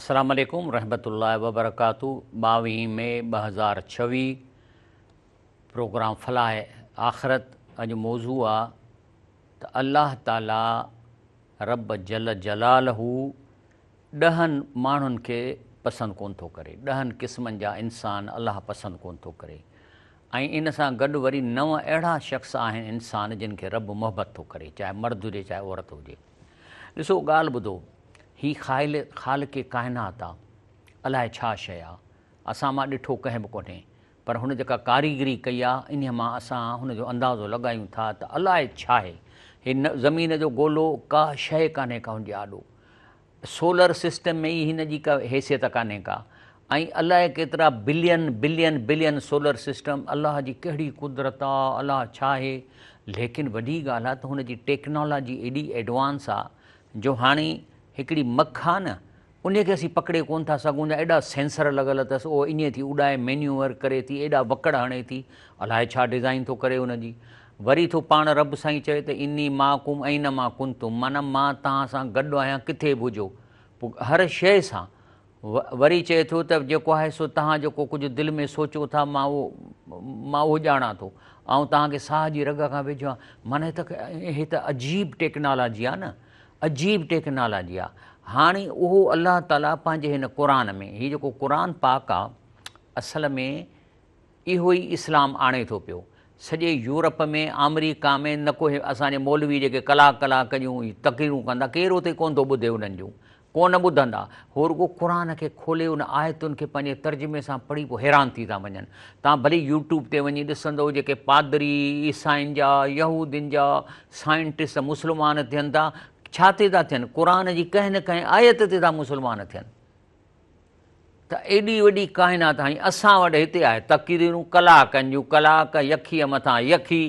السلام عليڪم رحمت الله وبرڪاته ٻاويهين مئي ٻه هزار ڇويهه پروگرام فلاح آخرت اڄ موضوع آ ته الله تعالي رب جل جلاله ڏهن ماڻهن کي پسند ڪون ٿو ڪري ڏهن قسمن جا انسان الله پسند ڪون ٿو ڪري ۽ ان سان گڏ وري نو اهڙا شخص آهن انسان جن کي رب محبت ٿو ڪري چاهي مرد هجي چاهي عورت هجي ڏسو ڳالهه ٻڌو، هي خائل خالق ڪائنات آ، الائي ڇا شيء آ، اسان مان ڏٺو ڪنهن به ڪونهي، پر هن جيڪا ڪاريگري ڪئي آ، انهيء مان اسان هن جو اندازو لڳايون ٿا ته الائي ڇاهي، هي زمين جو گولو ڪا شيء ڪانهي ڪا هن جي آڏو، سولر سسٽم ۾ ئي هن جي ڪا حيثيت ڪانهي ڪا، ۽ الائي ڪيترا billion billion billion solar system الله جي ڪهڙي قدرت آ الله ڇا آهي ليڪن وڏي ڳالهه آ ته هن جي ٽيڪنالاجي ايڏي ايڊوانس آ جو هاڻي هڪڙي مک آ نه انهي کي اسين پڪڙي ڪون ٿا سگهون جا ايڏا سينسر لڳل اٿس اهو اڃي ٿي اڏائي مينيوور ڪري ٿي ايڏا وڪڙ هڻي ٿي الائي ڇا ڊزائين ٿو ڪري ان جي وري ٿو پاڻ رب سائين چوي ته اني معاڪم اينما ڪنتم معنيٰ مان توهان سان گڏ آهيان ڪٿي به هجو پوء هر شيء سان وري چئي ٿو ته جيڪو آهي سو تهان جيڪو ڪجهه دل ۾ سوچو ٿا مان اهو مان اهو ڄاڻان ٿو آئون تهان کي ساهه جي رڳ کان ويجهو آهيان معنيٰ هي ته هي ته عجيب ٽيڪنالاجي آهي نه عجيب ٽيڪنالاجي آهي هاڻي اهو الله تعاليٰ پنهنجي هن قرآن ۾ هي جيڪو قرآن پاڪ آهي اصل ۾ اهو ئي اسلام آڻي ٿو پيو. سڄي يورپ ۾ آمريڪا ۾ نه ڪو هي اسان جي مولوي جيڪي ڪلاڪ ڪلاڪ جون هي تقريرون ڪندا ڪير اتي ڪونه ٿو ٻڌي انهن جون ڪو نه ٻڌندا هو رڳو قرآن کي کولي ان آيتن کي پنهنجي ترجمي سان پڙهي پوء حيران ٿي ٿا وڃن توهان ڀلي يوٽيوب تي وڃي ڏسندو جيڪي پادري عيسائين جا يهودين جا سائنٽسٽ مسلمان ٿين ٿا ڇا تي ٿا ٿين قرآن جي ڪنهن نه ڪنهن آيت تي ٿا مسلمان ٿين. ته ايڏي وڏي ڪائنات ۽ اسان وٽ هتي آهي تقريرون ڪلاڪن جون ڪلاڪ يخيء مٿان يخي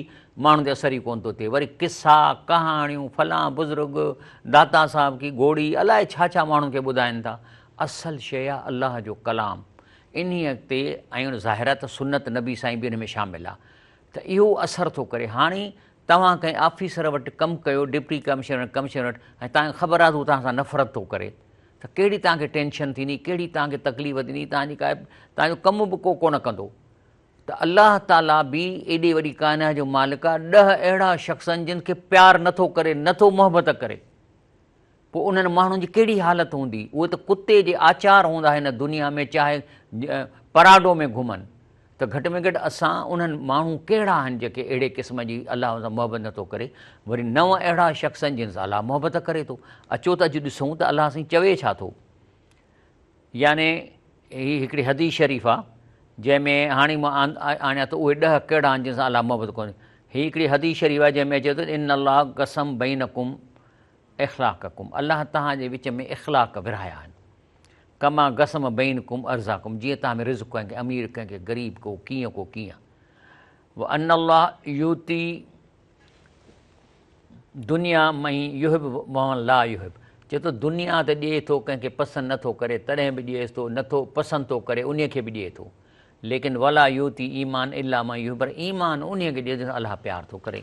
ماڻهن تي اثر ئي ڪونه ٿو ٿئي وري قصا ڪهاڻيون فلان بزرگ داتا صاحب ڪي گهوڙي الائي ڇا ڇا ماڻهن کي ٻڌائين ٿا اصل شيء آهي الله جو ڪلام انهيء تي ۽ ظاهر آهي ته سنت نبي سائين به ان ۾ شامل آهي ته اهو اثر ٿو ڪري هاڻي توهان ڪنهن آفيسر وٽ ڪم ڪيو ڊپٽي ڪمشنر ڪمشنر وٽ ۽ توهان کي خبر آهي ته هو توهان سان نفرت ٿو ڪري ته ڪهڙي توهان کي ٽينشن ٿيندي، ڪهڙي توهان کي تڪليف ٿيندي، توهان جي ڪا توهان جو ڪم به ڪو ڪونه ڪندو. ته الله تعاليٰ به ايڏي وڏي ڪائنات جو مالڪ آ، ڏهه اهڙا شخص آهن جن کي پيار نه ٿو ڪري، نه ٿو محبت ڪري. پوء انهن ماڻهن جي ڪهڙي حالت هوندي. اهي ته ڪتي جي آچار هوندا هن دنيا ۾ چاهي پراڊو ۾ گهمن. ته گهٽ ۾ گهٽ اسان انهن ماڻهون ڪهڙا آهن جيڪي اهڙي قسم جي الله سان محبت نه ٿو ڪري وري نو اهڙا شخص آهن جن سان الله محبت ڪري ٿو اچو ته اڄ ڏسون ته الله سائين چوي ڇا ٿو يعني هي هڪڙي حديث شريف آ جنهن ۾ هاڻي مان آڻيا ته اهي ڏهه ڪهڙا آهن جن سان الله محبت ڪوني هي هڪڙي حديث شريف آ جنهن ۾ اچي ٿو ان الله قسم بينڪم اخلاقڪم الله تهان جي وچ ۾ اخلاق ورهايا آهن ڪما قسم بينڪم ارزاقم جيئن توهان ۾ رزق ڪنهن کي امير ڪنهن کي غريب ڪو ڪيئن ڪو ڪيئن وان الله يوتي دنيا مهي يحب وان لا يحب چي ٿو دنيا ته ڏئي ٿو ڪنهن کي پسند نٿو ڪري تڏهن به ڏيئيس ٿو نٿو پسند ٿو ڪري انهي کي به ڏئي ٿو ليڪن ولا يوتي ايمان الا ما يحب ايمان انهي کي ڏي جنکي الله پيار ٿو ڪري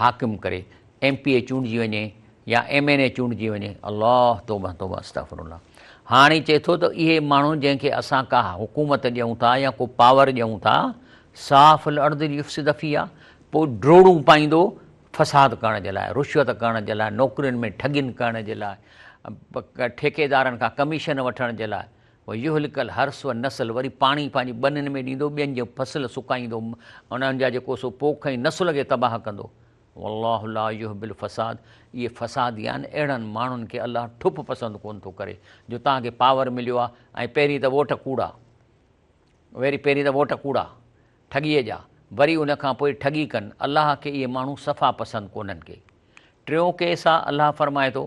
حاڪم ڪري ايم پي اي چونڊجي وڃي يا ايم اين اي چونڊجي وڃي الله توبه توبه استغفر الله هاڻي چئي ٿو ته اهي ماڻهو جنهن کي اسان ڪا حڪومت ڏيون ٿا يا ڪو پاور ڏيون ٿا صاف الارض ليفسد فيها پوء ڊوڙون پائيندو فساد ڪرڻ جي لاء رشوت ڪرڻ جي لاء نوڪرين ۾ ٺڳين ڪرڻ جي لاء ٺيڪيدارن کان ڪميشن وٺڻ جي لاء ويهلڪ الحرث والنسل وري پاڻي پنهنجي ٻنين ۾ ڏيندو ٻين جي فصل سڪائيندو انهن جا جيڪو سو پوک ۽ نسل کي تباهه ڪندو والله لا يحب الفساد اهي فسادي آهن اهڙن ماڻهن کي الله ٺپ پسند ڪونه ٿو ڪري جو توهان کي پاور مليو آهي ۽ پهرين ته ووٽ ڪوڙا وري پهرين ته ووٽ ڪوڙا ٺڳيء جا وري ان کان پوء ٺڳي ڪن الله کي اهي ماڻهو صفا پسند ڪونهن ڪي ٽيون ڪيس آهي الله فرمائي ٿو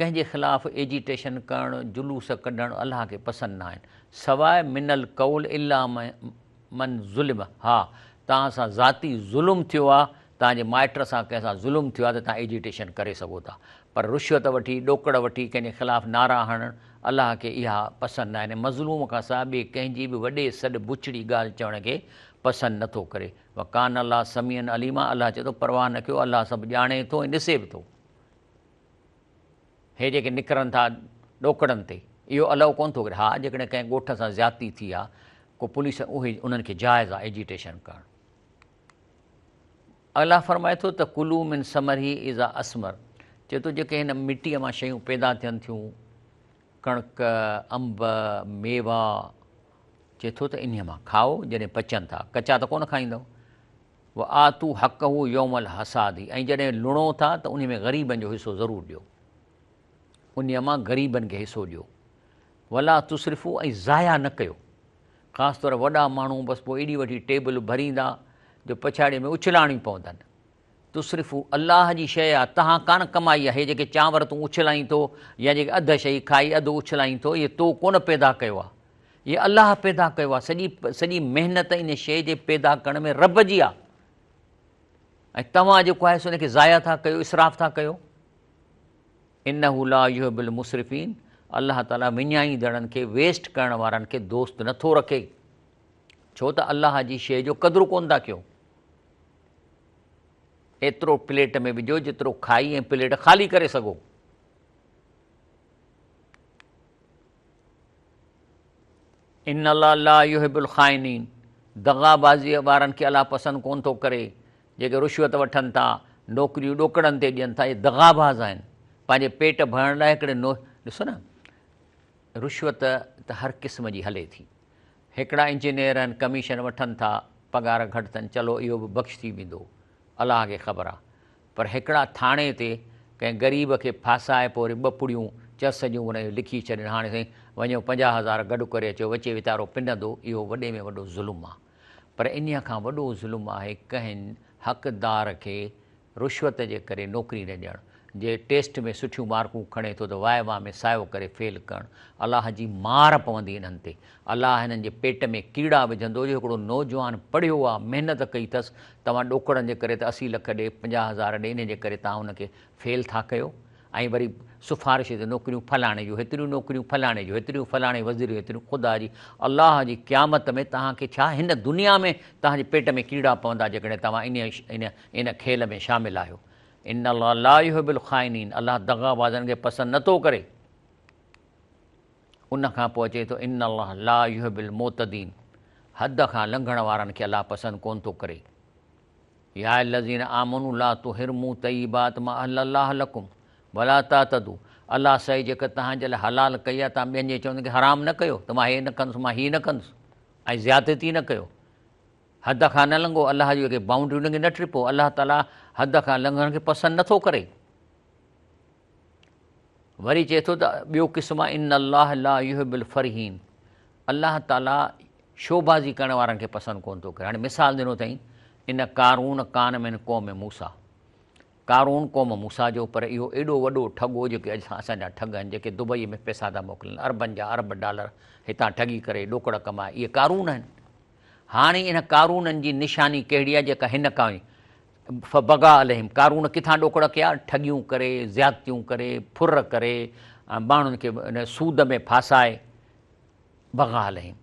ڪنهن جي خلاف ايجيٽيشن ڪرڻ، جلوس ڪڍڻ الله کي پسند ناهن. سواء من القول الا من ظلم ها توهان سان ذاتي ظلم ٿيو آ، توهان جي مائٽ سان ڪنهن سان ظلم ٿيو آ ته توهان ايجيٽيشن ڪري سگهو ٿا پر رشوت وٺي، ڏوڪڙ وٺي ڪنهن جي خلاف نعرا هڻڻ الله کي اها پسند ناهن ۽ مظلوم کان سواء ٻئي ڪنهن جي به وڏي سڏ بڇڙي ڳالهه چوڻ کي پسند نه ٿو ڪري. وڪان الله سميعا عليما الله چئي ٿو پرواهه نه ڪيو الله سڀ ڄاڻي ٿو ۽ ڏسي به ٿو. هي جيڪي نڪرن ٿا ڏوڪڙن تي، اهو الائو ڪونه ٿو ڪري. ها، جيڪڏهن ڪنهن ڳوٺ سان زيادتي ٿي آ، ڪو پوليس اهي انهن کي جائز آ ايجيٽيشن ڪرڻ. الله فرمائي ٿو ته ڪلو من ثمره اذا اثمر، چئي ٿو جيڪي هن مٽيء مان شيون پيدا ٿين ٿيون، ڪڻڪ، انب، ميوا، چئي ٿو ته انهيء مان کائو جڏهن پچن ٿا، ڪچا ته ڪونه کائيندؤ. وآتو حقه يوم الحصاد ۽ جڏهن لڻو ٿا ته انهي ۾ غريبن جو حصو ضرور ڏيو انهي مان غريبن کي حصو ڏيو ولا تصرفو ۽ ضايع نه ڪيو خاص طور وڏا ماڻهو بس پوء ايڏي وڏي ٽيبل ڀريندا جو پڇاڙيء ۾ اڇلانيون پوندن تصرفو الله جي شيء آ تهان ڪانه ڪمائي آهي جيڪي چانور تون اڇلائين ٿو يا جيڪي اڌ شيء کائي اڌ اڇلائين ٿو اهي تو ڪونه پيدا ڪيو آ هي الله پيدا ڪيو آهي سڄي سڄي محنت ان شيء جي پيدا ڪرڻ ۾ رب جي آهي ۽ توهان جيڪو آهي سو ان کي ضايع ٿا ڪيو اسراف ٿا ڪيو انه لا يحب المصرفين الله تعاليٰ وڃائيندڙن کي ويسٽ ڪرڻ وارن کي دوست نٿو رکي ڇو ته الله جي شيء جو قدر ڪون ٿا ڪيو ايترو پليٽ ۾ وجھو جيترو کائي ۽ پليٽ خالي ڪري سگھو ان الله لا يحب الخائنين دغا بازيء وارن کي الله پسند ڪونه ٿو ڪري، جيڪي رشوت وٺن ٿا، نوڪريون ڏوڪڙن تي ڏين ٿا، اهي دغا باز آهن، پنهنجي پيٽ ڀرڻ لاء هڪڙي نو ڏسو نه رشوت ته هر قسم جي هلي ٿي، هڪڙا انجنيئر آهن ڪميشن وٺن ٿا، پگهار گهٽ اٿن، چلو اهو به بخش ٿي ويندو، الله کي خبر آ پر هڪڙا ٿاڻي تي ڪنهن غريب کي ڦاسائي پوء وري ٻه پڙيون چس جون انهن جون لکي ڇڏين هاڻي سائين وڃو پنجاهه هزار گڏ ڪري اچو وچي ويتارو پنندو اهو وڏي ۾ وڏو ظلم آ پر انهيء کان وڏو ظلم آهي ڪنهن حقدار کي رشوت جي ڪري نوڪري نه ڏيڻ جي ٽيسٽ ۾ سٺيون مارڪون کڻي ٿو ته وائوا ۾ سايو ڪري فيل ڪرڻ الله جي مار پوندي انهن تي الله هنن جي پيٽ ۾ ڪيڙا وجهندو جو هڪڙو نوجوان پڙهيو آ محنت ڪئي ٿس توهان ڏوڪڙن جي ڪري ته اسي لک ڏي پنجاهه هزار ڏي انهي جي ڪري توهان ان کي فيل ٿا ڪيو ۽ وري سفارش تي نوڪريون فلاڻي جون هيتريون نوڪريون فلاڻي جون هيتريون فلاڻي وزير جون هيتريون خدا جي الله جي قيامت ۾ توهان کي ڇا هن دنيا ۾ توهان جي پيٽ ۾ ڪيڙا پوندا جيڪڏهن توهان انهي ان کيل ۾ شامل آهيو ان الله لا يحب الخائنين الله دغا بازن کي پسند نه ٿو ڪري. ان کان پوء اچي ٿو ان الله لا يحب المعتدين حد کان لنگهڻ وارن کي الله پسند ڪون ٿو ڪري. يا الذين آمنوا لا تحرموا طيبات ما احل الله لكم ولا تعتدوا الله سي جيڪا توهان جي لاء حلال ڪئي آهي توهان ٻين جي چوندن کي حرام نه ڪيو ته مان هي نه ڪندس مان هي نه ڪندس ۽ زيادتي نه ڪيو. حد کان نه لنگهو، الله جي اڳي بائونڊرين کي نه ٽپو، الله تعالي حد کان لنگهڻ کي پسند نٿو ڪري. وري چئي ٿو ته ٻيو قسم آهي ان الله لا يحب الفرحين الله تعالي شوبازي ڪرڻ وارن کي پسند ڪون ٿو ڪري هاڻي مثال ڏنو اٿئي ان قارون ڪان ۾ قوم موسا قارون قوم موسا جو پر اهو ايڏو وڏو ٺڳو جيڪي اڄ اسان جا ٺڳ آهن جيڪي دبئي ۾ پيسا ٿا موڪلن اربن جا ارب ڊالر هتان ٺڳي ڪري ڏوڪڙ ڪمائي اهي قارون آهن هاڻي انهن قارونن جي نشاني ڪهڙي آهي جيڪا هن ڪائين، فبغا عليهم، قارون ڪٿان ڏوڪڙ ڪيا، ٺڳيون ڪري، زيادتيون ڪري، ڦر ڪري ۽ ماڻهن کي سود ۾ ڦاسائي، بغا عليهم،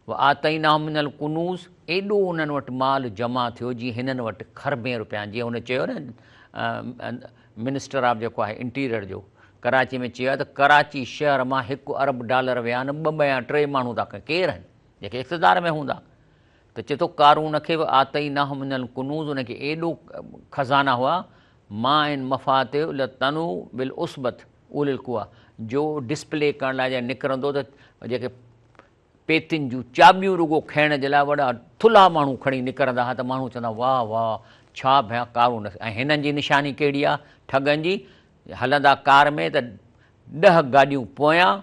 وآتيناهم من الڪنوز، ايڏو انهن وٽ مال جمع ٿيو جي هنن وٽ کربين رپيان جي هن چيو نه منسٽر آف جيڪو آهي انٽيريئر جو ڪراچي ۾ چيو آهي ته ڪراچي شهر مان هڪ ارب ڊالر ويا آهن ٻه ٻيا ٽي ماڻهو ٿا ڪير آهن. جيڪي اقتدار ۾ هوندا ته چي ٿو قارون کي به آتيناه من الڪنوز ان کي ايڏو خزانا هئا مع ان مفاتيح لتنوء بالعصبة اولي القوة جو ڊسپلي ڪرڻ لاء جڏهن نڪرندو ته جيڪي پيتين جون چاٻيون رڳو کڻڻ جي لاء وڏا ٿلها ماڻهو کڻي نڪرندا هئا ته ماڻهو چوندا واه واه ڇا ڀيان قارون ۽ هنن جي نشاني ڪهڙي آهي ٺڳن جي هلندا ڪار ۾ ته ڏهه گاڏيون پويان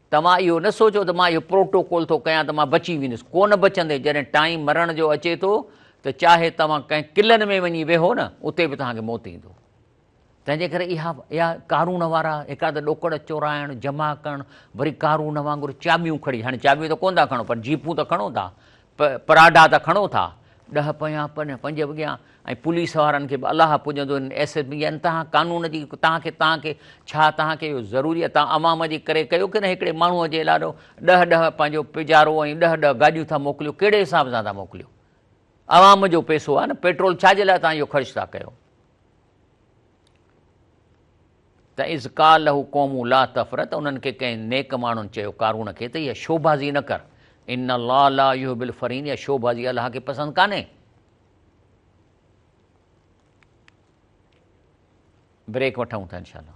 توهان اهو نه سوچو ته مان اهو پروٽوڪول ٿو ڪيان ته مان بچي ويندس، ڪو نه بچندي، جڏهن ٽائيم مرڻ جو اچي ٿو ته چاهي توهان ڪنهن قلعن ۾ وڃي ويهو نه اتي به توهان کي موت ايندو. تنهنجي ڪري اها اها قارون وارا هڪا ته ڏوڪڙ چورائڻ، جمع ڪرڻ، وري قارون وانگر چاٻيون کڻي، هاڻي چاٻيون ته ڪونه ٿا کڻو پر جيپون ته کڻو ٿا، پ پراڊا ته کڻو ٿا، ڏهه پهيان پن پنج وڳيان ۽ پوليس وارن کي به الاهه پڄندو هن ايس ايس بي ان تهان قانون جي تهان کي تهان کي ڇا تهان کي اهو ضروري آهي تهان عوام جي ڪري ڪيو ڪنهن هڪڙي ماڻهو جي لاڏو ڏهه ڏهه پنهنجو پيجارو ۽ ڏهه ڏهه گاڏيون ٿا موڪليو ڪهڙي حساب سان ٿا موڪليو عوام جو پيسو آهي نه پيٽرول ڇا جي لاء تهان اهو خرچ ٿا ڪيو. ته اذ قال له قومه لا تفرح ته انهن کي ڪنهن نيڪ ماڻهن چيو قارون کي ته اها شوبازي نه ڪر ان الله لا يحب الفرين اها شوبازي الله کي پسند ڪانهي بريڪ وٺون ٿا انشاءالله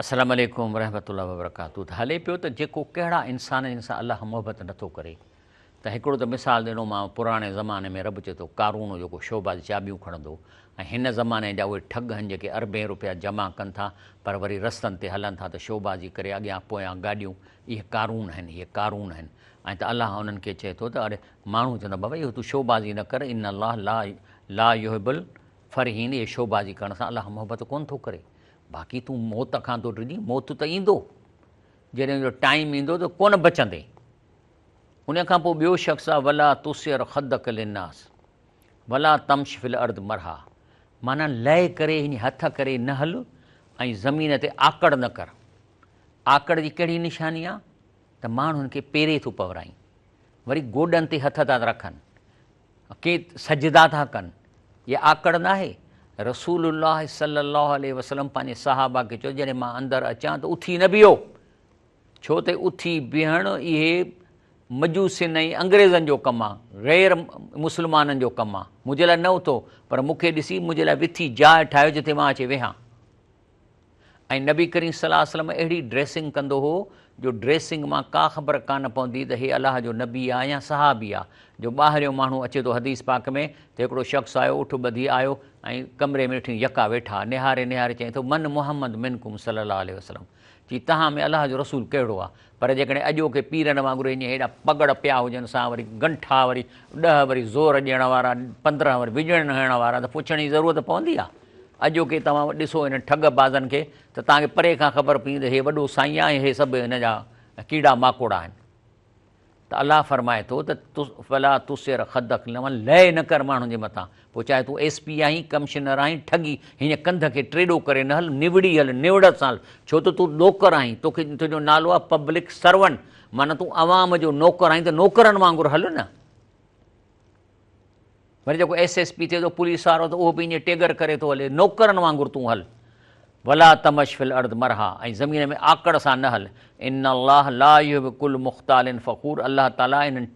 السلام عليڪم ورحمة الله وبرڪاته ته هلي پيو ته جيڪو ڪهڙا انسان جن سان الله محبت نٿو ڪري ته هڪڙو ته مثال ڏنومانو پراڻي زماني ۾ رب چي ٿو قارون هو جيڪو شعبه جي چاٻيون کڻندو ۽ هن زماني جا اهي ٺڳ هن جيڪي اربين روپيا جمع ڪن ٿا پر وري رستن تي هلن ٿا ته شعبه جي ڪري اڳيان پويان گاڏيون اهي قارون آهن اهي قارون آهن ۽ ته الله انهن کي چي ٿو ته اڙي ماڻهو چوندا بابا اهو تون شعبه جي نه ڪر ان الله لا لا يحب فرحين اهي شوبازي ڪرڻ سان الله محبت ڪونه ٿو ڪري. باقي تون موت کان ٿو ڊڄين، موت ته ايندو. جڏهن ان جو ٽائيم ايندو ته ڪونه بچندين. ان کان پوء ٻيو شخص آهي ولا تسعر خدک للناس ولا تمش في الارض مرحا معنيٰ لئه ڪري يعني هٿ ڪري نه هل ۽ زمين تي آڪڙ نه ڪر. آڪڙ جي ڪهڙي نشاني آهي ته ماڻهن کي پيري ٿو پورائين. وري گوڏن تي هٿ ٿا رکن. ڪي سجدا ٿا ڪن، اها آڪڙ ناهي؟ رسول الله صلي الله عليه وسلم پنهنجي صحابه کي چيو جڏهن مان اندر اچان ته اٿي نه بيهو، ڇو ته اٿي بيهڻ اهي مجوسين ۽ انگريزن جو ڪم آ، غير مسلمانن جو ڪم آ، منهنجي لاء نه اٿو، پر مون کي ڏسي منهنجي لاء وٿي جاء ٺاهيو جتي مان اچي ويهان. ۽ نبي ڪريم صلي الله عليه وسلم اهڙي ڊريسنگ ڪندو هو جو ڊريسنگ مان ڪا خبر ڪانه پوندي ته هي الله جو نبي آ يا صحابي آ جو ٻاهريون ماڻهو اچي ٿو حديث پاڪ ۾ ته هڪڙو شخص آيو اٺ ٻڌي آيو ۽ ڪمري ۾ ٺيون يڪا ويٺا نهاري نهاري چئي ٿو من محمد منڪم صلي الله عليه وسلم چي تهان ۾ الله جو رسول ڪهڙو آ پر جيڪڏهن اڄوڪي پيرن وانگر هينئين هيڏا پڳڙ پيا هجن سان وري ڳنٺا وري ڏهه وري زور ڏيڻ وارا پندرهن وري وڄڻ هڻڻ وارا ته پڇڻ جي ضرورت پوندي آ اڄوڪي توهان ڏسو هن ٺڳ بازن کي ته توهان کي پري کان خبر پوي ته هي وڏو سائين آهي ۽ هي سڀ هن جا ڪيڙا ماڪوڙا آهن ته الله فرمائي ٿو ته فلا تسر خدک لمن لئه نه ڪر ماڻهن جي مٿان پوء چاهي تون ايس پي آهين ڪمشنر آهين ٺڳي هينئن ڪنڌ کي ٽيڏو ڪري نه هل نوڙي هل نوڙت سان هل ڇو ته تون ڏوڪر آهين تو کي تنهنجو نالو آهي پبلڪ سرونٽ معنيٰ تون عوام جو نوڪر آهين ته نوڪرن وانگر هل نه وري جيڪو ايس ايس پي ٿئي ٿو پوليس وارو ته اهو به ائين ٽيگر ڪري ٿو هلي نوڪرن وانگر تون هل ولا تمش في الارض مرها ۽ زمين ۾ آڪڙ سان نه هل ان الله لا يحب كل مختال فخور الله تعالي انهن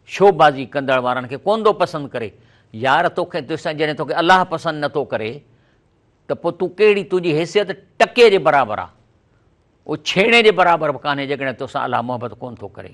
شوبازي ڪندڙ وارن کي ڪونه ٿو پسند ڪري يار توکي تسان جڏهن توکي الله پسند نٿو ڪري ته پوء تون ڪهڙي تنهنجي حيثيت ٽڪي جي برابر آ اهو ڇيڻي جي برابر به ڪانهي جيڪڏهن توسان الله محبت ڪونه ٿو ڪري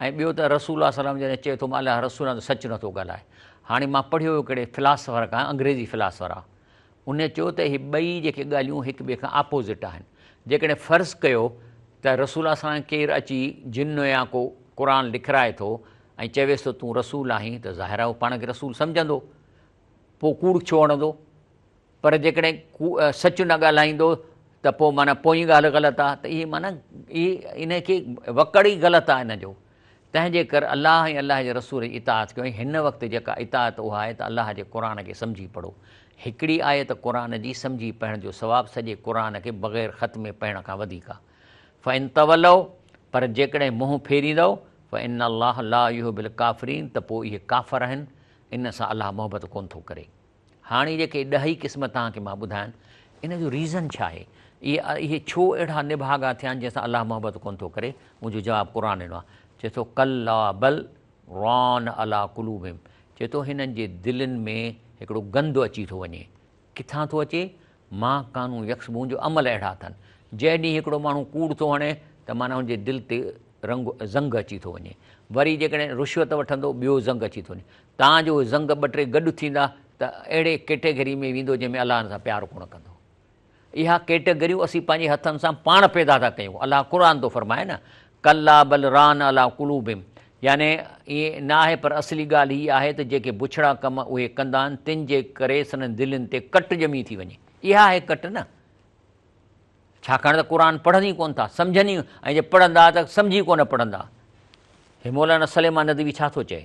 ۽ ٻيو ته رسول الله صلي الله عليه وسلم جڏهن چئي ٿو مان الله رسول آهيان ته سچ نٿو ڳالهائي. هاڻي مان پڙهيو هيو ڪهڙي فلاسفر کان، انگريزي فلاسفر آ. ان چيو ته هي ٻئي جيڪي ڳالهيون هڪ ٻئي کان آپوزٽ آهن. جيڪڏهن فرض ڪيو ته رسول الله صلي الله عليه وسلم ڪير اچي جن يا ڪو قرآن لکرائي ٿو ۽ چويس ٿو تون رسول آهين ته ظاهر آهي هو پاڻ کي رسول سمجهندو. پوء ڪوڙ ڇو هڻندو؟ پر جيڪڏهن ڪوڙ، سچ نه ڳالهائيندو ته پوء معنيٰ پوئين ڳالهه غلط آهي ته اهي معنيٰ اهي ان کي وڪڙ ئي غلط آهي ان جو تنهن جي ڪر الله ۽ الله جي رسول جي اطاعت ڪيو ۽ هن وقت جيڪا اطاعت اها آهي ته الله جي قرآن کي سمجهي پڙهو هڪڙي آيت قرآن جي سمجهي پڙهڻ جو ثواب سڄي قرآن کي بغير ختمي پڙهڻ کان وڌيڪ آهي فان تولوا پر جيڪڏهن منهن ڦيريندؤ فان الله لا يحب الڪافرين ته پوء اهي ڪافر آهن ان سان الله محبت ڪونه ٿو ڪري. هاڻي جيڪي ڏهه ئي قسم توهان کي مان ٻڌاين، ان جو ريزن ڇا آهي؟ اهي ڇو اهڙا نڀاڳا ٿيا آهن جنهن سان الله محبت ڪونه ٿو ڪري؟ منهنجو جواب قرآن ڏنو آهي. چئي ٿو ڪلا بل ران عليٰ قلوبهم چئي ٿو هنن جي دلين ۾ هڪڙو گند اچي ٿو وڃي. ڪٿان ٿو اچي؟ مان ڪانو يڪس مون جو عمل اهڙا اٿن. جنهن ڏينهن هڪڙو ماڻهو ڪوڙ ٿو هڻي ته معنيٰ هن جي دل تي رنگ زنگ اچي ٿو وڃي. وري جيڪڏهن رشوت وٺندو ٻيو زنگ اچي ٿو وڃي. تان جو اهي زنگ ٻه ٽي گڏ ٿيندا ته اهڙي ڪيٽيگري ۾ ويندو جنهن ۾ الله هن سان پيار ڪونه ڪندو. اها ڪيٽيگريون اسين پنهنجي هٿن سان پاڻ پيدا ٿا ڪيون. الله قرآن ٿو فرمائي نه ڪلا بل ران علي قلوبهم يعني ائين نه آهي پر اصلي ڳالهه هي آهي ته جيڪي بڇڙا ڪم اهي ڪندا آهن تن جي ڪري سندن دلين تي ڪٽ ڄمي ٿي وڃي اها آهي ڪٽ نه ڇاڪاڻ ته قرآن پڙهن ئي ڪونه ٿا سمجهن ئي ۽ جي پڙهندا ته سمجهي ئي ڪونه پڙهندا هي مولانا سليمان ندوي ڇا ٿو چئي.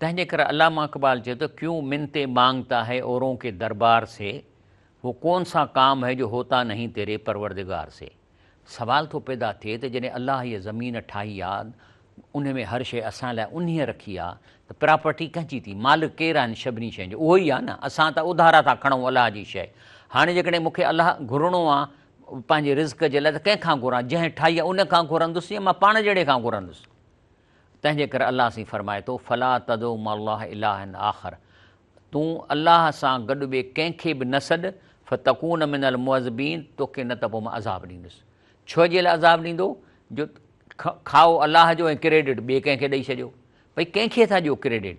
تنهنجي ڪري علامه اقبال چئي ٿو، ڪيون منتين مانگتا هي اورون ڪي دربار سي، وو ڪون سا ڪام هي جو هوتا نهين تيري پروردگار سي. سوال ٿو پيدا ٿئي ته جڏهن الله هيء زمين ٺاهي آ، انهي ۾ هر شيء اسان لاء انهيء رکي آ ته پراپرٽي ڪنهن جي ٿي؟ مالڪ ڪير آهن سڀني شين جو؟ اهو ئي آ نه. اسان ته اڌارا ٿا کڻون الله جي شيء. هاڻي جيڪڏهن مون کي الله گهرڻو آ پنهنجي رزق جي لاء ته ڪنهن کان گهران؟ جنهن ٺاهي آ ان کان گهرندس يا مان پاڻ جهڙي کان گهرندس؟ تنهنجي ڪري الله سين فرمائي ٿو، فلا تدع مع الله الها آخر، تون الله سان گڏ ٻئي ڪنهن کي به نه سڏ، فتڪون من المعذبين، توکي نه ته پوء مان عذاب ڏيندس. ڇو جي لاء عذاب ڏيندو؟ جو کائو الله جو ۽ ڪريڊٽ ٻئي ڪنهن کي ڏئي ڇڏيو. ڀئي ڪنهن کي ٿا ڏيو ڪريڊٽ؟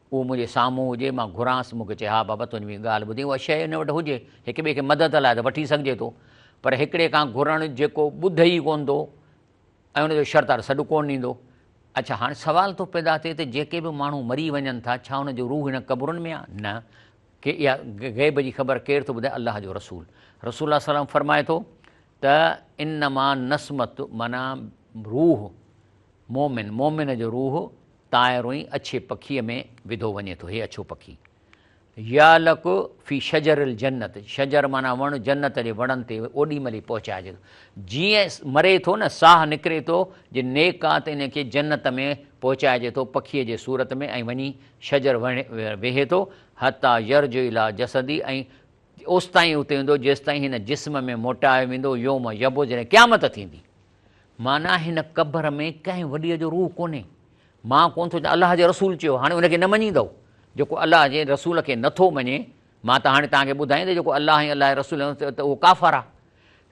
هو منهنجي سامهون هجي، مان گهرانس، مون کي چئي، ها بابا تنهنجي مون کي ڳالهه ٻڌي، اها شيء هن وٽ هجي، هڪ ٻئي کي مدد لاء ته وٺي سگهجي ٿو، پر هڪڙي کان گهرڻ جيڪو ٻڌي ئي ڪونه ٿو ۽ ان جو شرطار سڏ ڪونه ڏيندو. اڇا هاڻي سوال ٿو پيدا ٿئي ته جيڪي به ماڻهو مري وڃن ٿا، ڇا انهن جو روح هن قبرن ۾ آ؟ نه، ڪي اها غيب جي خبر ڪير ٿو ٻڌائي؟ الله جو رسول رسول الله صلعم فرمائي ٿو ته انما نسمة معنيٰ روح مومن، مومن جو روح طائر ۽ اڇي پکيء ۾ وڌو وڃي ٿو، هي اڇو پکي. يعلق في شجر الجنت، شجر معنيٰ وڻ، جنت جي وڻن تي اوڏي مهل ئي پهچائجي ٿو. جيئن مري ٿو نه، ساهه نڪري ٿو، جي نيڪ آ ته ان کي جنت ۾ پهچائجي ٿو پکيء جي صورت ۾ ۽ وڃي شجر وڻ ويهي ٿو، حتيٰ يرجع اليٰ جسدي، ۽ اوستائين اتي هوندو جيستائين هن جسم ۾ موٽايو ويندو، يوم يبعث، جڏهن قيامت ٿيندي. معنيٰ هن قبر ۾ ڪنهن وڏيء جو روح ڪونهي. مان ڪونه ٿو چان الله جي رسول چيو هاڻي ان کي نه مڃيندؤ. جيڪو الله جي رسول کي نه ٿو مڃي مان ته هاڻي توهان کي ٻڌايان ته جيڪو الله ۽ الله جي رسول ۽ ته اهو ڪافر آهي.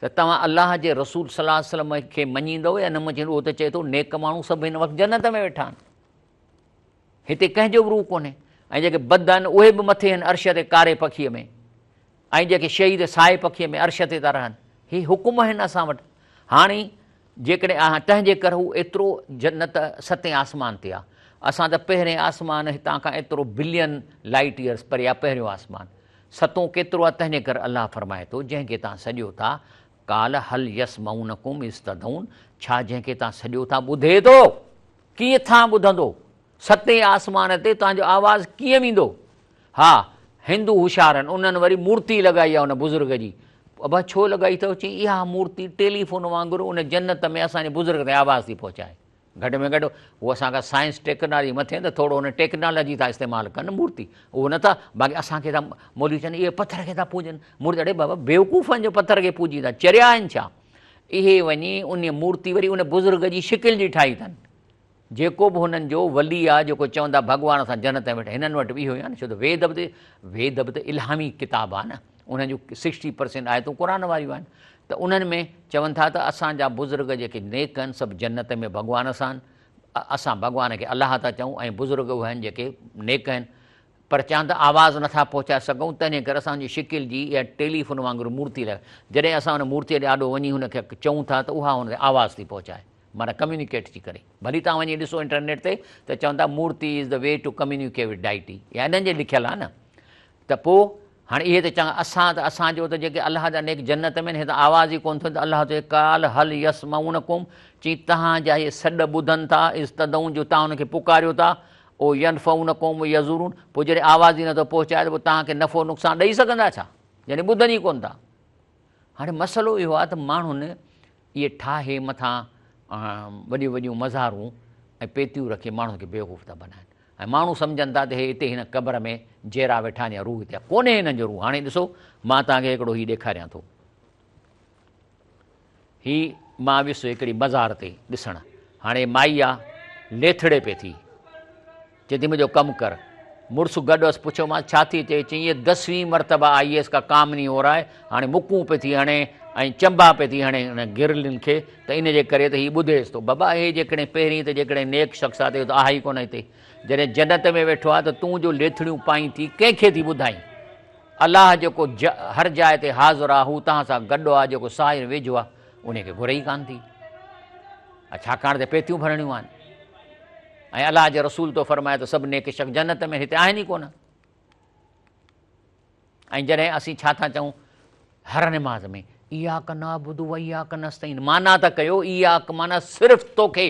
ته توهان الله جي رسول صلي الله عليه وسلم کي مڃيندؤ يا نه مڃيندؤ اهو ته چئي ٿو نيڪ ماڻهو سڀ هن وقت جنت ۾ ويٺا آهن. هتي ڪنهن جو به روح ڪونهي ۽ جيڪي بد آهن اهي به مٿي هن عرش تي ڪاري پکيء ۾ ۽ جيڪي شهيد سائي پکيء ۾ عرش تي ٿا رهن هي حڪم آهن اسان وٽ هاڻي جيڪڏهن آهن تنهنجي ڪر هو ايترو جنت ستين آسمان تي آ اسان ته پهرين آسمان هتان کان ايترو بلين لائيٽ ايئرس پري آ پهريون آسمان ستون ڪيترو آ تنهنجي ڪر الله فرمائي ٿو جنهن کي تان سڏيو ٿا قال هل يسمعونكم استدعون ڇا جنهن کي تان سڏيو ٿا ٻڌي ٿو؟ ڪيئن ٿان ٻڌندو؟ ستين آسمان تي توهان جو آواز ڪيئن ويندو؟ ها، هندو هوشيارن، انهن وري مورتي لڳائي آهي ان بزرگ جي. ابا ڇو لڳائي اٿئو؟ چيائين، اها مورتي ٽيلي فون وانگر ان جنت ۾ اسان جي بزرگ تائين آواز ٿي پهچائي. گهٽ ۾ گهٽ هو اسان کان سائنس ٽيڪنالاجي مٿي آهن ته ٿورو ان ٽيڪنالاجي ٿا استعمال ڪن نه مورتي اهو نه ٿا باقي اسان کي ٿا مولوي چون اهي پٿر کي ٿا پوڄن مورتي اڙي بابا بيوقوف آهن جو پٿر کي پوڄيندا چريا آهن ڇا؟ اهي وڃي ان مورتي وري ان بزرگ جي شڪل جي ٺاهي اٿن جيڪو به هنن جو ولي آ جيڪو چوندا ڀڳوان سان جنت ۾ ويٺا هنن وٽ به اهو آهن ڇو ته ويد به ويد به ته الهامي ڪتاب آ نه انهن جو سڪسٽي پرسينٽ آيتون تون قرآن واريون آهن ته انهن ۾ چون ٿا ته اسان جا بزرگ جيڪي نيڪ آهن سڀ جنت ۾ ڀڳوان سان اسان ڀڳوان کي الله ٿا چئون ۽ بزرگ اهي آهن جيڪي نيڪ آهن پرچان ته آواز نٿا پهچائي سگهون، تنهن ڪري اسان جي شڪل جي اها ٽيلي فون وانگر مورتي لڳ. جڏهن اسان ان مورتيء جي آڏو وڃي هن کي چئون ٿا ته اها هن تي آواز ٿي پهچائي، معنيٰ ڪميونيڪيٽ ٿي ڪري. ڀلي توهان وڃي ڏسو انٽرنيٽ تي ته چون ٿا murti is the way to communicate with deity اها انهن جي لکيل آهي نه ته پوء هاڻي اهي ته چون اسان ته اسان جو ته جيڪي الله جا نيڪ جنت ۾ آهن اهي ته آواز ئي ڪونه ٿو ته الله چئي قال هل يسمعونڪم چئي توهان جا اهي سڏ ٻڌن ٿا اذ تدعون جو توهان انهن کي پڪاريو ٿا او ينفعونڪم يضرون، پوء جڏهن آواز ئي نٿو پهچائي ته پوء توهان کي نفعو نقصان ڏئي سگهندا ڇا؟ يعني ٻڌن ئي ڪونه ٿا. هاڻي مسئلو اهو آهي ته ماڻهن اهي ٺاهي مٿان وڏيون وڏيون مزارون ۽ پيتيون رکي ماڻهن کي بيوقوف ٿا بنائن ۽ ماڻهو سمجهن ٿا ته هي هتي هن قبر ۾ جيئرا ويٺا آهن يا روح هتي آهي، ڪونهي هنن جو روح. هاڻي ڏسو مان توهان کي هڪڙو هي ڏيکاريان ٿو. هي مان ويس هڪڙي مزار تي ڏسڻ. هاڻي مائي آ ليٿڙي پئي ٿي. چئي ٿي منهنجو ڪم ڪر. مڙس گڏ هئس پڇيومانس ڇا ٿي چئي. چئي هيء دسوين مرتبه آئي ايس ڪا ڪامني هو رائي هاڻي مڪون پئي ٿي هڻي ۽ چنبا پئي ٿي هڻي ان گرلين کي ته ان جي ڪري ته هي ٻڌيس ٿو بابا اهي جيڪڏهن پهرين ته جيڪڏهن نيڪ شخص آ ته اهو ته آهي ئي ڪونه هتي جڏهن جنت ۾ ويٺو آ ته تون جو ليٿڙيون پائين ٿي ڪنهن کي ٿي ٻڌائين. الله جيڪو ج هر جاء تي حاضر آ هو توهان سان گڏ آ جيڪو ساحر ويجهو آ انهي کي گهرئي ڪانه ٿي ڇاڪاڻ ته پيتيون ڀرڻيون آهن ۽ الله جي رسول تو فرمايو ته سڀ نيڪ شخص جنت ۾ هتي آهن ئي ڪونه ۽ جڏهن اسين ڇا ٿا چئون هر نماز ۾ ايا ڪنا بدو ويا ڪنستين مانا ته ڪيو ايا ڪمانا صرف توکي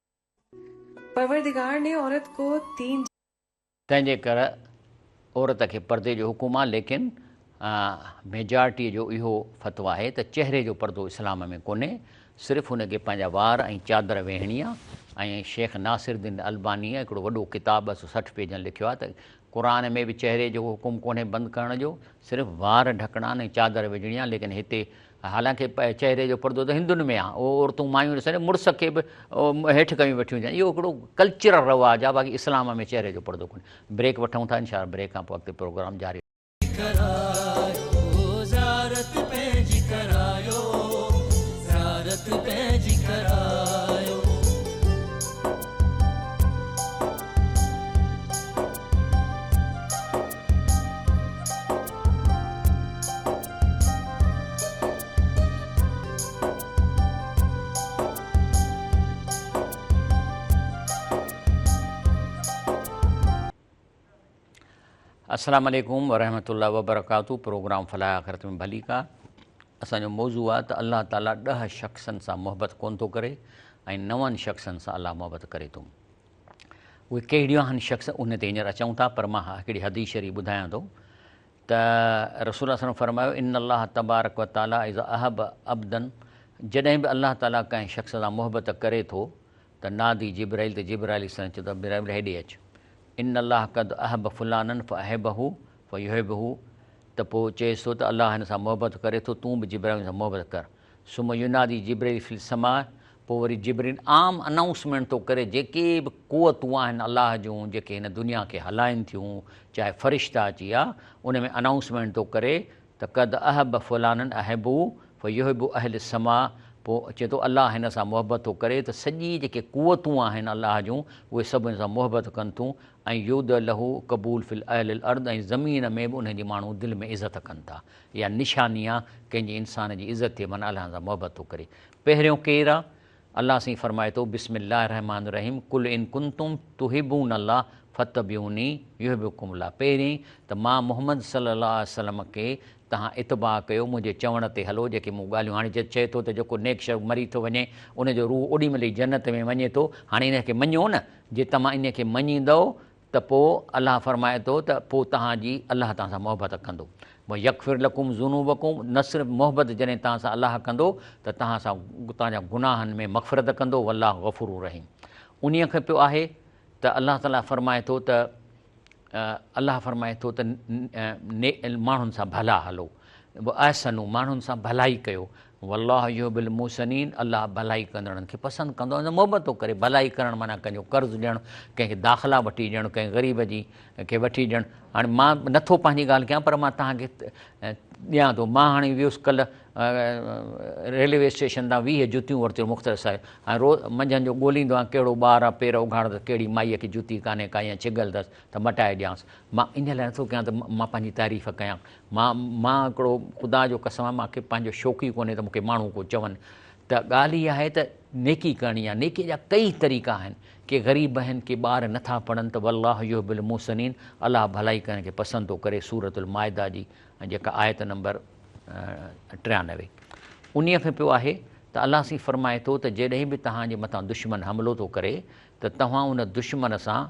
پروردگار ني عورت ڪو دين. تنهن جي ڪر عورت کي پردي جو حڪم آهي ليڪن ميجارٽي جو اهو فتويٰ آهي ته چهري جو پردو اسلام ۾ ڪونهي صرف هن کي پنهنجا وار ۽ چادر ويهڻي آهي ۽ شيخ ناصر الدين البانيء هڪڙو وڏو ڪتاب ٻه سؤ سٺ پيجن لکيو آهي ته قرآن ۾ به چهري جو حڪم ڪونهي بند ڪرڻ جو صرف وار ڍڪڻا آهن ۽ چادر وجهڻي آهي ليڪن هتي حالانڪ چهري جو پردو ته هندن ۾ آهي، اهو عورتون مايون ڏسن ته مڙس کي به هيٺ ڪيون ويٺيون هجن، اهو هڪڙو ڪلچرل رواج آهي، باقي اسلام ۾ چهري جو پردو ڪونهي. بريڪ وٺون ٿا، انشاء الله بريڪ کان پوء اڳتي پروگرام جاري رهندو. السلام عليڪم ورحمة الله وبرڪاته پروگرام فلاح آخرت ۾ ڀلي کا اسان جو موضوع آ ته الله تعالي ڏه شخصن سان محبت ڪون ٿو ڪري ۽ نون شخصن سان الله محبت ڪري ٿو اهي ڪهڙيون آهن شخص ان تي هينئر اچون ٿا پر مان هڪڙي حديث شريف ٻڌايان ٿو ته رسول صلّي اللّٰه عليه وسلّم فرمايو، ان الله تبارڪ و تعالٰي اذا احب عبدا جڏهن به الله تعالٰي ڪنهن شخص سان محبت ڪري ٿو ته نادي جبرائيل ته جبرائيل عليه السّلام چوندو آهي جبرائيل هيڏي اچ ان الله قد احب فلانا فاحبه فيحبه ته پوء چئيس ٿو ته الله هن سان محبت ڪري ٿو تون به جبرائيل سان محبت ڪر. ثم ينادي جبريل في السماء پوء وري جبريل عام انائونسمينٽ ٿو ڪري جيڪي به قوتون آهن الله جون جيڪي هن دنيا کي هلائين ٿيون چاهي فرشتا اچي يا ان ۾ انائونسمينٽ ٿو ڪري ته قد احب فلانا احبه فيحبه اهل السماء پوء چئي ٿو الله هن سان محبت ٿو ڪري ته سڄي جيڪي قوتون آهن الله جون اهي سڀ هن سان محبت ڪن ٿيون ۽ يودع له قبول في اهل الارض ۽ زمين ۾ به انهن جي ماڻهو دل ۾ عزت ڪن ٿا يا نشاني آ ڪنهن جي انسان جي عزت ٿئي معنيٰ الله سان محبت ٿو ڪري پهريون ڪير آ الله سائين فرمائي ٿو بسم الله الرحمٰن الرحيم قل ان ڪنتم تحبون الله فتبعوني يحببڪم الله پهرين ته مان محمد صلي الله عليه وسلم کي تهان اتباع ڪيو منهنجي چوڻ تي هلو جيڪي مون ڳالهيون هاڻي جت چئي ٿو ته جيڪو نيڪ شخص مري ٿو وڃي ان جو روح اوڏي مهل ئي جنت ۾ وڃي ٿو هاڻي ان کي مڃو نه جي توهان انهي کي مڃيندؤ ته پوء الله فرمائي ٿو ته پوء توهان جي الله توهان سان محبت ڪندو. ويغفر لڪم ذنوبڪم نه صرف محبت جڏهن توهان سان الله ڪندو ته توهان سان توهان جا گناهن ۾ مغفرت ڪندو والله غفور رحيم انهي کي پيو آهي ته الله تعالي فرمائي ٿو ته الله فرمائي ٿو ته ني ماڻهن سان ڀلا هلو واحسنو ماڻهن سان ڀلائي ڪيو والله يحب المحسنين الله ڀلائي ڪندڙن کي پسند ڪندو آهي محبت ٿو ڪري ڀلائي ڪرڻ معنيٰ ڪنهن جو قرض ڏيڻ ڪنهن کي داخلا وٺي ڏيڻ ڪنهن غريب جي کي وٺي ڏيڻ هاڻي مان نه ٿو پنهنجي ڳالهه ڪيان پر مان توهان کي ڏيان ٿو مان هاڻي ويس ڪلهه ريلوي اسٽيشن تان ويهه جتيون ورتيون مختر صاحب هاڻي روز منجهند جو ڳوليندو آهيان ڪهڙو ٻار آ پير اگهاڙندس ڪهڙي مائيء کي جتي ڪانهي ڪا يا ڇگل اٿس ته مٽائي ڏيانس مان ان لاء نه ٿو ڪيان ته مان پنهنجي تعريف ڪيان مان مان هڪڙو خدا جو قسم آهي مان کي پنهنجو شوق ئي ڪونهي ته مون کي ماڻهو ڪو چون ته ڳالهه اها آهي ته نيڪي ڪرڻي آهي نيڪي جا ڪئي طريقا آهن ڪي غريب آهن ڪي ٻار نٿا پڙهن ته والله يحب المحسنين الله ڀلائي ڪرڻ کي پسند ٿو ڪري سورة المائده جي جيڪا آيت نمبر ٽيانوي انهي کي پيو آهي ته الله سين فرمائي ٿو ته جيڏهن به توهان جي مٿان دشمن حملو ٿو ڪري ته توهان ان دشمن سان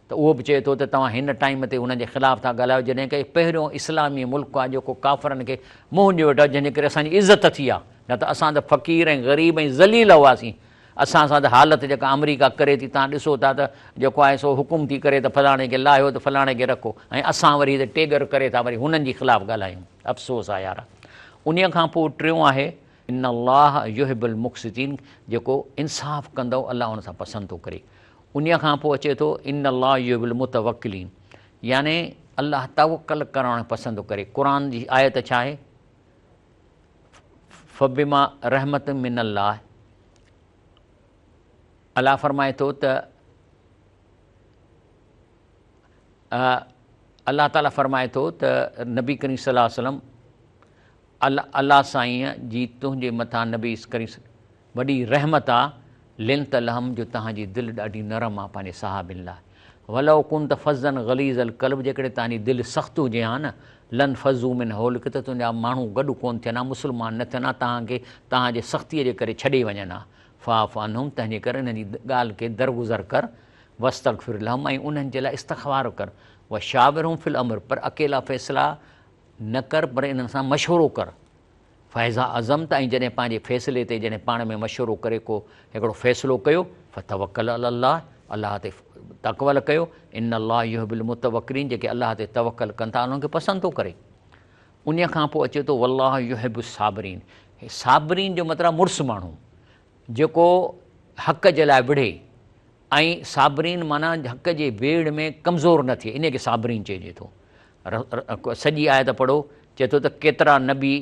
ته اهو به چئي ٿو ته توهان هن ٽائيم تي انهن جي خلاف ٿا ڳالهايو جڏهن ڪه هي پهريون اسلامي ملڪ آهي جيڪو ڪافرن کي منهن ڏيو ويٺو آهي جنهن جي ڪري اسان جي عزت ٿي آهي نه ته اسان ته فقير ۽ غريب ۽ ذليل هئاسين اسان سان ته حالت جيڪا آمريڪا ڪري ٿي تان ڏسو ٿا ته جيڪو آهي سو حڪم ٿي ڪري ته فلاڻي کي لاهيو ته فلاڻي کي رکو ۽ اسان وري هتي ٽيڳر ڪري ٿا وري هنن جي خلاف ڳالهايون افسوس آهي يار انهي کان پوء ٽيون آهي ان الله يحب المقسطين جيڪو انصاف ڪندو الله ان سان پسند ٿو ڪري انهيء کان پوء اچي ٿو ان الله يحب المتوڪلين يعني الله توڪل ڪرڻ پسند ڪري قرآن جي آيت ڇا آهي فبما رحمت من الله الله فرمائي ٿو ته الله تعالیٰ فرمائي ٿو ته نبي ڪريم صليٰ وسلم الله سائينء جي تنهنجي مٿان نبي ڪريم وڏي رحمت آ لنت لحم جو توهان جي دل ڏاڍي نرم آ پنهنجي صحابين لاء ولو ڪنت فظا غليظ القلب جيڪڏهن توهان جي دل سخت هجي ها نه لن فضو من حولڪ ته تنهنجا ماڻهو گڏ ڪون ٿين ها مسلمان نه ٿين ها توهان کي توهان جي سختي جي ڪري ڇڏي وڃن ها فاعف عنهم تنهنجي ڪري انهن جي ڳالهه کي درگذر ڪر واستغفر لهم ۽ انهن جي لاء استغفار ڪر وشاورهم في الامر پر اڪيلا فيصلا نه ڪر پر انهن سان مشورو ڪر. فاذا عزمت ۽ جڏهن پنهنجي فيصلي تي جڏهن پاڻ ۾ مشورو ڪري ڪو هڪڙو فيصلو ڪيو فتوڪل علي الله الله تي تڪول ڪيو ان الله يحب المتوڪلين جيڪي الله تي توڪل ڪن ٿا انهن کي پسند ٿو ڪري انهي کان پوء اچي ٿو والله يحب الصابرين صابرين جو مطلب مڙس ماڻهو جيڪو حق جي لاء وڙهي ۽ صابرين معنيٰ حق جي ويڙهه ۾ ڪمزور نه ٿئي انهيء کي صابرين چئجي ٿو. سڄي آيت پڙهو، چئي ٿو ته ڪيترا نبي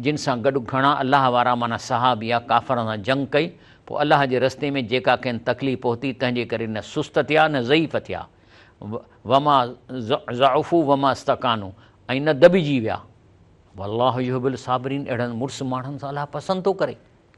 جن سان گڏ گهڻا الله وارا معنيٰ صحابيه ڪافرن سان جنگ ڪئي، پوء الله جي رستي ۾ جيڪا کين تڪليف پهتي تنهن جي ڪري نه سست ٿيا نه ضعيف ٿيا، وما ضعفوا وما استڪانوا ۽ نه دٻجي ويا. والله يحب الصابرين اهڙن مڙس ماڻهن سان الله پسند ٿو ڪري.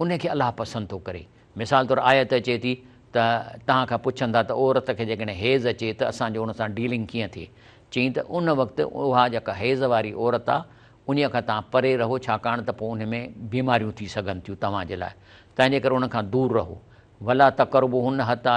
ان کي الله پسند ٿو ڪري. مثال طور آيت اچي ٿي ته توهان کان پڇن ٿا ته عورت کي جيڪڏهن حيض اچي ته اسان جو ان سان ڊيلنگ ڪيئن ٿئي؟ چئين ته ان وقت اها جيڪا حيض واري عورت آهي انهيء کان توهان پري رهو ڇاڪاڻ ته پوء ان ۾ بيماريون ٿي سگهن ٿيون توهان جي لاء تنهنجي ڪري ان کان دور رهو ولا تقربوهن حتي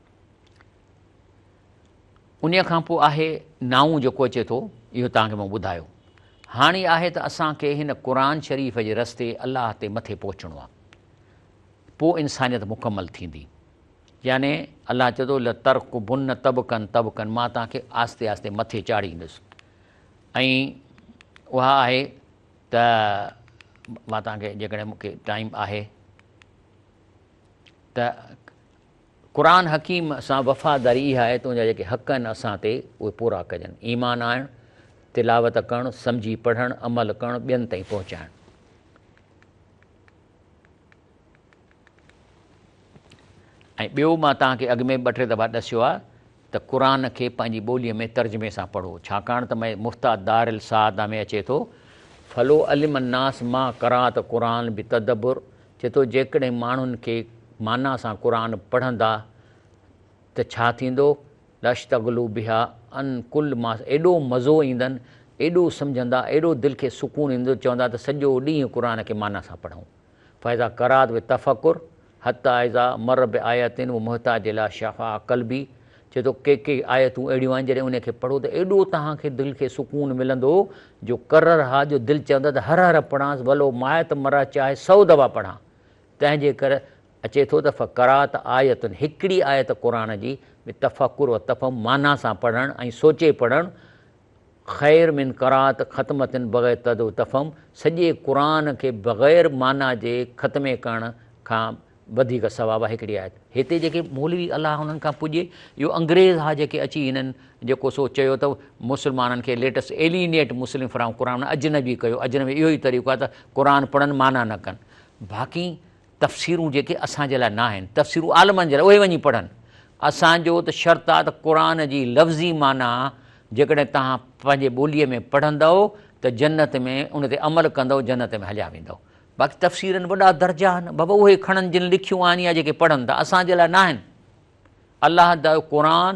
انهيء کان پوء آهي نائون جيڪو اچي ٿو، اهو توهان کي مون ٻڌايو. هاڻي آهي ته اسان کي هن قرآن شريف جي رستي الله تي مٿي پهچڻو آهي. پوء انسانيت مڪمل ٿيندي. يعني الله چئي ٿو، لترڪبن طبقا طبقا مان توهان کي آهستي آهستي مٿي چاڙهيندس. ۽ اها آهي ته مان توهان کي جيڪڏهن مون کي ٽائيم آهي ته قرآن حڪيم سان وفاداري اها آهي ته ان جا جيڪي حق آهن اسان تي اهي پورا ڪجن، ايمان آڻڻ، تلاوت ڪرڻ، سمجهي پڙهڻ، عمل ڪرڻ، ٻين تائين پهچائڻ. ۽ ٻيو مان توهان کي اڳ ۾ ٻه ٽي دفعا ڏسيو آهي. ته قرآن کي پنهنجي ٻوليء ۾ ترجمي سان پڙهو، ڇاڪاڻ ته مئي مفتاح دار السعاده ۾ اچي ٿو، فلو علم الناس ما قرات قرآن بتدبر، چي ٿو جيڪڏهن ماڻهن کي معنيٰ سان قرآن پڙهندا ته ڇا ٿيندو، لاشتغلوا بها عن ڪل ما ايڏو مزو ايندن، ايڏو سمجهندا، ايڏو دل کي سڪون ايندو، چوندا ته سڄو ڏينهن قرآن کي معنيٰ سان پڙهون، فاذا قرات بتفڪر، حتي اذا مر بآية و محتاج الي شفاء قلبي چئي ٿو ڪي ڪي آيتون اهڙيون آهن جڏهن انهن کي پڙهو ته ايڏو توهان کي دل کي سڪون ملندو جو قرر ها جو دل چوندو ته هر هر پڙهانس ولو مائت مرا چاهي سئو دفعا پڙهان تنهنجي ڪر اچي ٿو ته فقرات آية هڪڙي آيت قرآن جي بتفڪر و تفهم معنيٰ سان پڙهڻ ۽ سوچي پڙهڻ خير من قرات ختمة بغير تد و تفهم، سڄي قرآن کي بغير معنيٰ جي ختمي ڪرڻ کان وڌيڪ ثواب آهي هڪڙي آيت هتي جيڪي مولوي الله انهن کان پڄي اهو انگريز ها جيڪي اچي هنن جيڪو سو چيو ته مسلمانن کي ليٽس ايلينيٽ مسلم فرام قرآن اجنبي ڪيو اجنبي اهو ئي طريقو آهي ته قرآن پڙهن معنيٰ نه ڪن باقي تفسيرون جيڪي اسان جي لاء ناهن، تفسيرون عالمن جي لاء، اهي وڃي پڙهن. اسان جو ته شرط آهي ته قرآن جي لفظي معنيٰ جيڪڏهن توهان پنهنجي ٻوليء ۾ پڙهندؤ ته جنت ۾ ان تي عمل ڪندؤ جنت ۾ هليا ويندؤ. باقي تفسيرن وڏا درجا آهن، بابا اهي کڻن جن لکيون آهن يا جيڪي پڙهن ٿا، اسان جي لاء ناهن. الله جو قرآن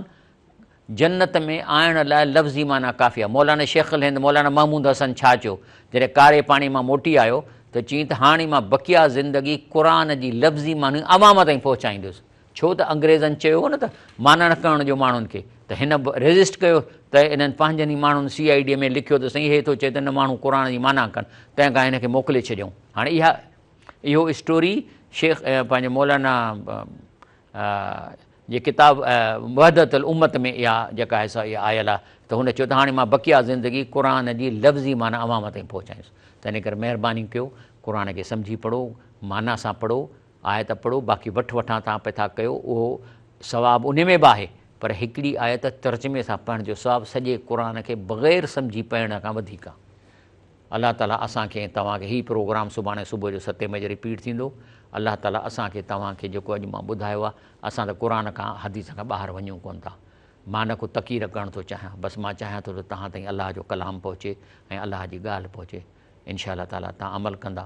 جنت ۾ آڻڻ لاء لفظي معنيٰ ڪافي آهي. مولانا شيخ الهند مولانا محمود حسن ڇا چيو؟ جڏهن ڪاري پاڻي مان موٽي آيو ته چيائين ته هاڻي مان بقيه زندگي قرآن جي لفظي معنيٰ عوام تائين پهچائيندس. ڇو ته انگريزن چيو هو نه ته معنيٰ نه ڪرڻ ڏيو ماڻهن کي ته هن به ريزسٽ ڪيو ته انهن پنهنجن ئي ماڻهن سي آء ڊي ۾ لکيو ته سائين هي ٿو چئي ته نه ماڻهو قرآن جي معنيٰ ڪن تنهن ڪري هن کي موڪلي ڇڏيائون. هاڻي اها اهو اسٽوري شيخ پنهنجو مولانا جي ڪتاب وحدت الامت ۾ اها جيڪا آهي سا اها آيل آهي ته هن چيو ته هاڻي مان بقيه زندگي قرآن جي لفظي معنيٰ عوام تائين پهچائيس تنهن ڪري مهرباني ڪيو قرآن کي سمجهي پڙهو معنيٰ سان پڙهو آيت پڙهو باقي وٺ وٺان توهان پئي ٿا ڪيو اهو ثواب انهي ۾ به آهي پر هڪڙي آيت ترجمي سان پڙهڻ جو ثواب سڄي قرآن کي بغير سمجهي پڙهڻ کان وڌيڪ آهي. الله تعالي اسان کي ۽ توهان کي هي پروگرام سڀاڻي صبح جو ستين بجي رپيٽ ٿيندو الله تعالي اسان کي توهان کي جيڪو اڄ مان ٻڌايو آهي اسان ته قرآن کان حديث کان ٻاهر وڃون ڪونه ٿا مان نه ڪو تقير ڪرڻ ٿو چاهيان بس مان چاهيان ٿو ته توهان تائين الله جو ڪلام پهچي ۽ الله جي ڳالهه پهچي انشاء الله تعالي توهان عمل ڪندا